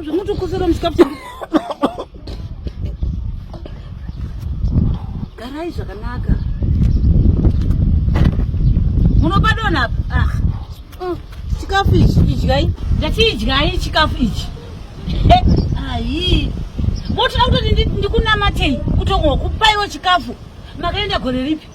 zvamutokosera musikapu garai zvakanaka munopadona apa ah. mm, chikafu ichi idyai ndatiidyai chikafu ichi ayi motoda kutoti ndikunamatei kutongo kupaiwo chikafu makaenda gore ripi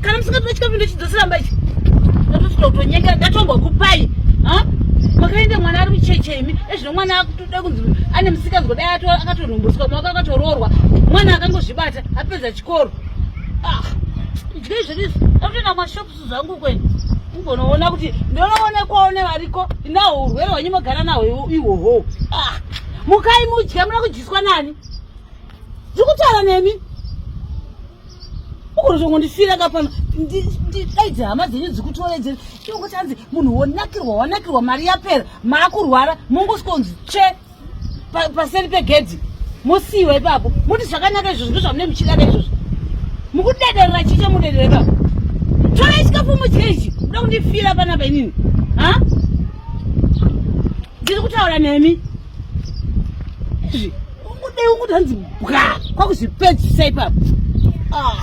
kana musingapina chikafu ndochidzosiramba ichi ndatosvika kutonyengera ndatongwa kupai makaenda mwana ari mucheche imi ezvino mwana akutoda kunzi ane musikanzwa dai akatonhombotswa mwaka akatoroorwa mwana akangozvibata apedza chikoro ah, idyei zvedu izvi akutoenda mashopusu zvangu kwenu ugonoona kuti ndonoonekwawo nevariko inaho urwere hwenyu mogara naho ihwohwo ah, mukai mudya muna kudyiswa nani ndiri kutaura nemi ukunozongondifira ka pano ndidaidze hama dzenyu dzikutoredzere inongosi anzi munhu wonakirwa wanakirwa mari yapera maakurwara mongosikonzi tsve paseri pegedhi mosiyiwa ipapo moti zvakanaka izvozvo ndozvamune muchidaka izvozvo mukudederera chii chamudederera ipapo torai chikafu mudye ichi kuda kundifira panapa inini ha ndiri kutaura nemi izvi kudai ukuti hanzi bwa kwakuzvipedzisa ipapo ah.